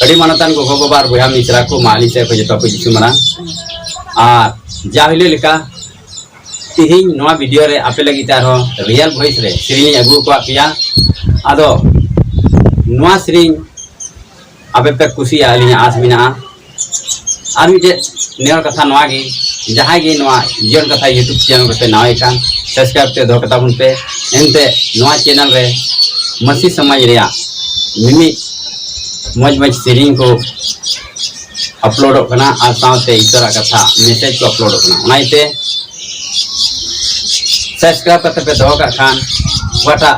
ᱟᱹᱰᱤ ᱢᱟᱱᱚᱛᱟᱱ ᱜᱚᱜᱚ ᱵᱟᱵᱟ ᱟᱨ ᱵᱚᱭᱦᱟ ᱢᱤᱥᱨᱟ ᱠᱚ ᱢᱟᱦᱟᱞᱤ ᱥᱮᱫ ᱠᱷᱚᱱ ᱡᱚᱛᱚ ᱠᱚ ᱡᱤᱥᱩ ᱢᱟᱨᱟᱝ ᱟᱨ ᱡᱟ ᱦᱤᱞᱳᱜ ᱞᱮᱠᱟ ᱛᱮᱦᱮᱧ ᱱᱚᱣᱟ ᱵᱷᱤᱰᱤᱭᱳ ᱨᱮ ᱟᱯᱮ ᱞᱟᱹᱜᱤᱫ ᱛᱮ ᱟᱨᱦᱚᱸ ᱨᱤᱭᱮᱞ ᱵᱷᱚᱭᱮᱥ ᱨᱮ ᱥᱮᱨᱮᱧ ᱟᱹᱜᱩ ᱟᱠᱟᱫ ᱯᱮᱭᱟ ᱟᱫᱚ ᱱᱚᱣᱟ ᱥᱮᱨᱮᱧ ᱟᱯᱮ ᱯᱮ ᱠᱩᱥᱤᱭᱟᱜᱼᱟ ᱟᱹᱞᱤᱧᱟᱜ ᱟᱸᱥ ᱢᱮᱱᱟᱜᱼᱟ ᱟᱨ ᱢᱤᱫᱴᱮᱡ ᱱᱮᱦᱚᱨ ᱠᱟᱛᱷᱟ ᱱᱚᱣᱟ ᱜᱮ ᱡᱟᱦᱟᱸᱭ ᱜᱮ ᱱᱚᱣᱟ ᱡᱤᱭᱚᱱ ᱠᱟᱛᱷᱟ ᱤᱭᱩᱴᱩᱵᱽ ᱪᱮᱱᱮᱞ ᱨᱮᱯᱮ ᱱᱟᱣᱟᱭ ᱠᱟᱱ ᱥᱟᱵᱥᱠᱨᱟᱭᱤᱵ ᱛᱮ ᱫᱚᱦᱚ ᱠᱟᱛᱟ ᱵᱚᱱ ᱯᱮ ᱮᱱᱛᱮ ᱱᱚᱣᱟ ᱪᱮᱱᱮᱞ ᱨᱮ ᱢᱟᱹᱥᱤ ᱥᱚᱢᱟᱡᱽ ᱨᱮᱭᱟᱜ ᱢᱤᱢᱤᱫ ᱢᱚᱡᱽ ᱢᱚᱡᱽ ᱥᱮᱨᱮᱧ ᱠᱚ ᱟᱯᱞᱳᱰᱚᱜ ᱠᱟᱱᱟ ᱟᱨ ᱥᱟᱶᱛᱮ ᱤᱛᱟᱹᱨᱟᱜ ᱠᱟᱛᱷᱟ ᱢᱮᱥᱮᱡᱽ ᱠᱚ ᱟᱯᱞᱳᱰᱚᱜ ᱠᱟᱱᱟ ᱚᱱᱟ ᱤᱭᱟᱹᱛᱮ ᱥᱟᱵᱥᱠᱨᱟᱭᱤᱵ ᱠᱟᱛᱮ ᱯᱮ ᱫᱚᱦᱚ ᱠᱟᱜ ᱠᱷᱟᱱ ᱚᱠᱟᱴᱟᱜ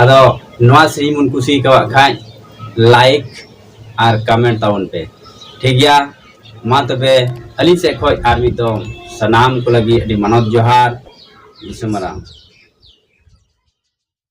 ᱟᱫᱚ ᱱᱚᱣᱟ ᱥᱮᱨᱮᱧ ᱵᱚᱱ ᱠᱩᱥᱤ ᱟᱠᱟᱣᱟᱜ ᱠᱷᱟᱡ ᱞᱟᱭᱤᱠ ᱟᱨ ᱠᱚᱢᱮᱱᱴ ᱛᱟᱵᱚᱱ ᱯᱮ ᱴᱷᱤᱠ ᱜᱮᱭᱟ ᱢᱟ ᱛᱚᱵᱮ ᱟᱹᱞᱤᱧ ᱥᱮᱫ ᱠᱷᱚᱡ ᱟᱨ ᱢᱤᱫ ᱫᱚᱢ ᱥᱟᱱᱟᱢ ᱠᱚ ᱞᱟᱹᱜᱤᱫ ᱟᱹᱰᱤ ᱢᱟᱱᱚᱛ ᱡᱚᱦᱟᱨ ᱫᱤᱥᱚᱢ ᱢᱟᱨᱟᱝ